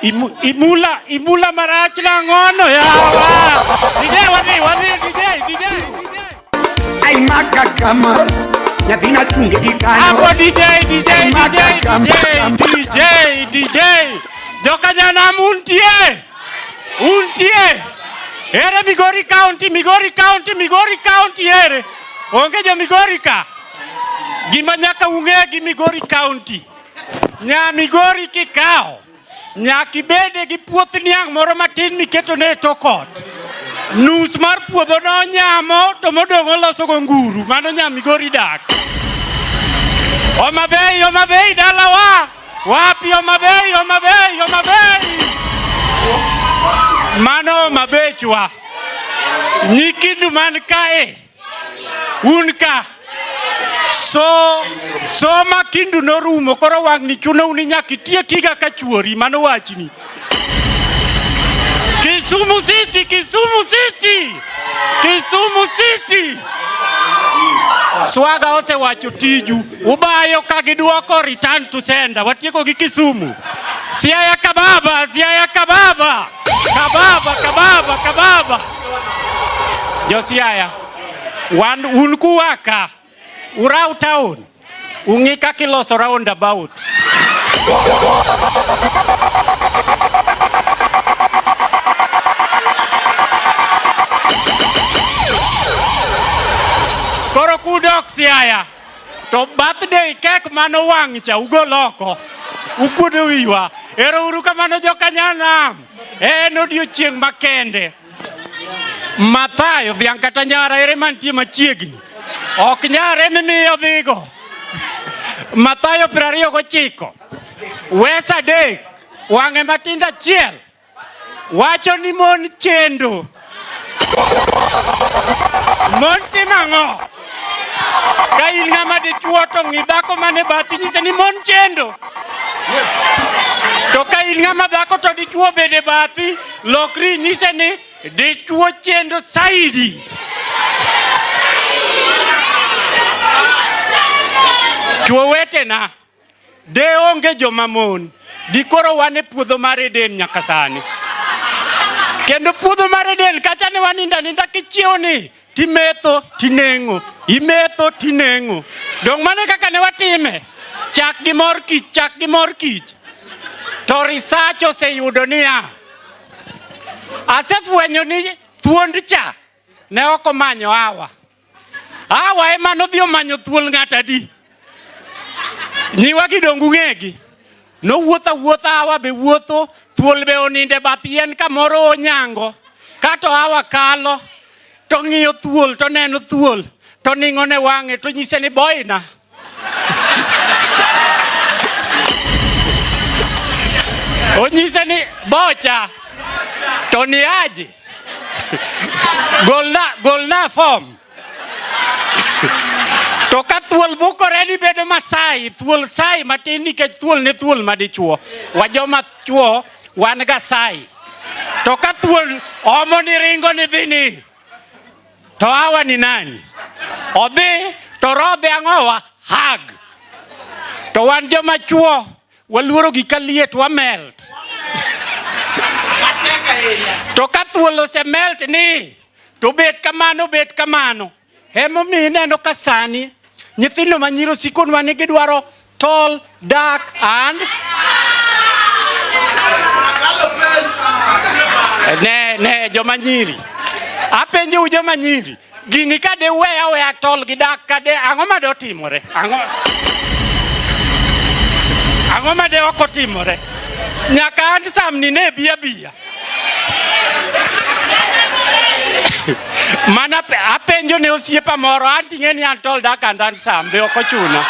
Imu, imula, imula marach na ngono ya. DJ wadi, wadi, DJ, DJ. Ay maka kama ya vina tunge gikano. Ako DJ, DJ, DJ, DJ, DJ, DJ. Joka jana muntie. Untie. Ere Migori County, Migori County, Migori County ere. Onge jo Migori ka. Gima nyaka ung'e gi Migori County. Nya Migori kikawo nyaka ibede gi puoth niang' moro matin miketo ne tokot nus mar puodho no nyamo to modong' oloso go nguru mano nya Migori dak Omabei Omabei dalawa wapi Omabei Omabei Omabei mano Omabechwa nyikindu man kae Un ka. So, soma kindu norumo koro wang'ni chuno uni nyaka itiekiga ka chuori mano wachni. Kisumu City, Kisumu City, Kisumu City. Swaga osewacho tiju, ubayo ka gidwoko return to sender. Watieko gi Kisumu. Siaya Kababa, Siaya Kababa. Kababa, kababa, kababa. Josiaya, wan un kuwaka urau town ung'i kaka iloso round about koro kudok siaya To birthday kek mano wang' cha ugol oko. Ukuodo wiwa. Ero uru kamano jokanyanam. En odiochieng' makende. Mathayo dhiang' kata nyara ere mantie machiegni. Ok nyara emi miyo dhigo. Mathayo piero ariyo gochiko. Wes adek. Wang'e matindo achiel. wacho ni mon chendo. Mon timo ang'o? Ka in ng'ama dichuo to ng'i dhako mane bathi nyise ni mon chendo. To ka in ng'ama dhako to dichuo bende bathi, lokri nyise ni dichuo chendo saidi. Chuo wetena. De onge joma mon, dikoro wan e puodho mar Eden nyaka sani. Kendo puodho mar Eden kacha ne waninda ninda kichiewo ni timetho tineng'o, imetho tineng'o. Dong' mano kaka ne watime, chak gi mor kich, chak gi mor kich. To research oseyudo niya, asefwenyo ni thuond cha ne ok omanyo hawa. Awa ema nodhi omanyo thuol ng'at adi? Nyiwa gi dongu ng'egi. Nowuotho awuotha awa be wuotho, thuol be oninde bath yien kamoro onyango. Kato awa kalo, to ng'iyo thuol, to neno thuol, to ning'o ne wang'e, to nyise ni boina. Onyise ni bocha to ni aji golna, golna form to ka thuol bukore ni bedo masai thuol sai matin nikech thuol ne thuol madichuo wajoma chuo wan ga sai to ka thuol omo ni ringo ni dhini To hawa ni nani? Odhi to rodhe ang'owa hag. To wan joma chuo waluoro gi kaliet wamelt. To ka thuol osemelt ni to bet kamano bet kamano. Emomiyo ineno ka sani Nyithindo ma nyiro sikonwa ni gidwaro tall, dark and ne ne joma nyiri apenjou joma nyiri gini ka de weya weya tol gi dak ka de ang'o ma de otimore ang'o ang'o ma de ok otimore nyaka an samni ne biya biya mana apenjo ne osiepa moro anti ng'e ni an told aka ndan sambe ok ochuna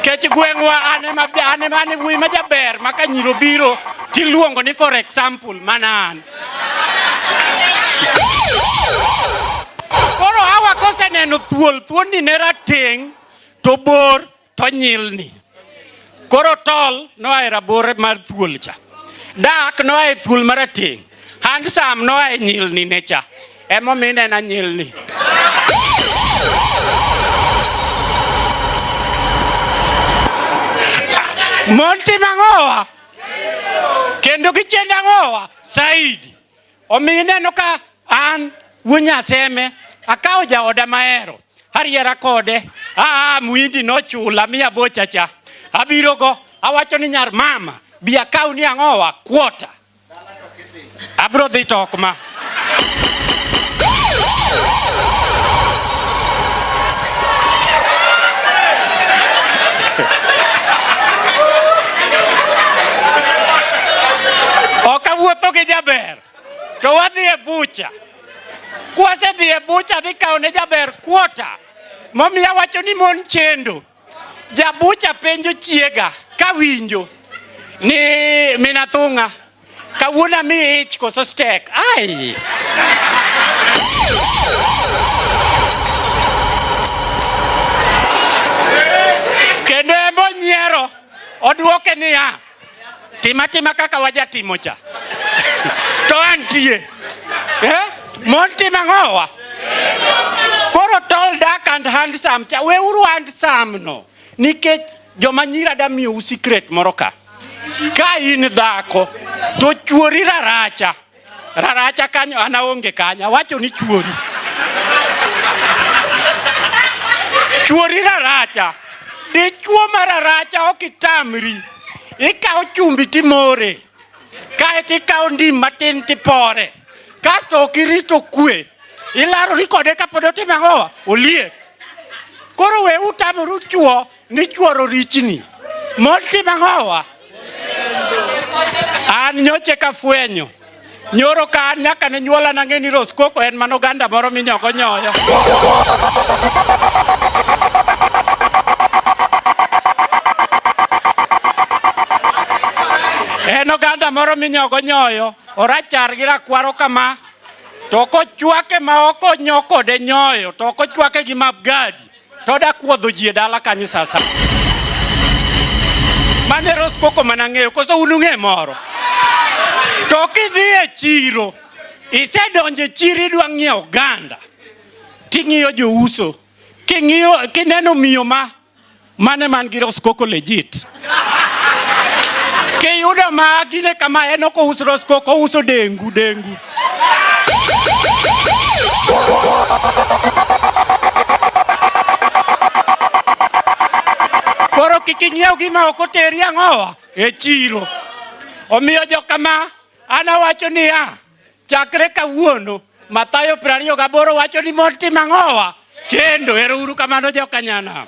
kech gweng'wa an ema an ema an wuoyi ma jaber ma ka nyiro biro tiluongo ni for example mana an koro hawa koseneno thuol thuonni ne rateng' to bor to nyilni. Koro tol noa e rabor mar thuol cha. Dak noa e thuol marateng'. Handsome noa e nyilni ne cha. Emomiyo inena nyilni. Mon timo ang'owa? Kendo gichendo ang'owa? Saidi. Omiyo ineno ka an wuo Nyaseme akawo jaoda mahero ariera kode aa muindi nochula mi abocha cha abirogo awacho ni nyar mama bi akaw ni ang'owa kuota abro dhi to ok ma ok awuotho gi jaber to wadhi e bucha kwasedhi e bucha dhi kawo ne jaber kuota momiyo awacho ni mon chendo jabucha penjo chiega kawinjo ni minathung'a Kawuono mi ich koso stek. Ai. Kendo embo nyiero odwoke niya tima tima kaka wajatimo cha to antie eh? mon tima ng'owa koro tall dark and handsome cha weuru handsome no nikech joma nyira da miyo usikret moro ka ka in dhako to chuori raracha raracha kanyo an aonge kanyo awacho ni chuori chuori raracha dichuo ma raracha ok itamri ikawo chumbi timore kae to ikawo ndim matin tipore kasto ok irito kwe ilarori kode kapod otimo ang'o oliet koro we utamoru chuo ni chuoro richni mond tim ang'owa an nyoche kafwenyo Nyoro ka an nyaka ne nyuola nang'e ni Roskoko en mano ganda moro minyoko nyoyo. En oganda moro minyoko nyoyo, orachar gi rakwaro kama, to kochwake ma ok onyo kode nyoyo, to ok ochwake gi mabgadi. to da kuodho ji e dala kanyo sasa. Mane Rose Coco mana ng'eyo koso un ung'e moro. To kidhi e chiro isedonje chiri idwa ng'iewo oganda ting'iyo jouso king'iyo kineno miyo ma mane man gi Rose Coco legit Kiyudo ma gine kama en ok ouso rosko ok ouso dengu dengu. Koro kik inyiew gima ok oteri ang'owa e chiro. Omiyo jokama an awacho niya chakre kawuono Mathayo piero ariyo gaboro wacho ni mond tim ang'owa chendo. Erouru kamano jokanyana.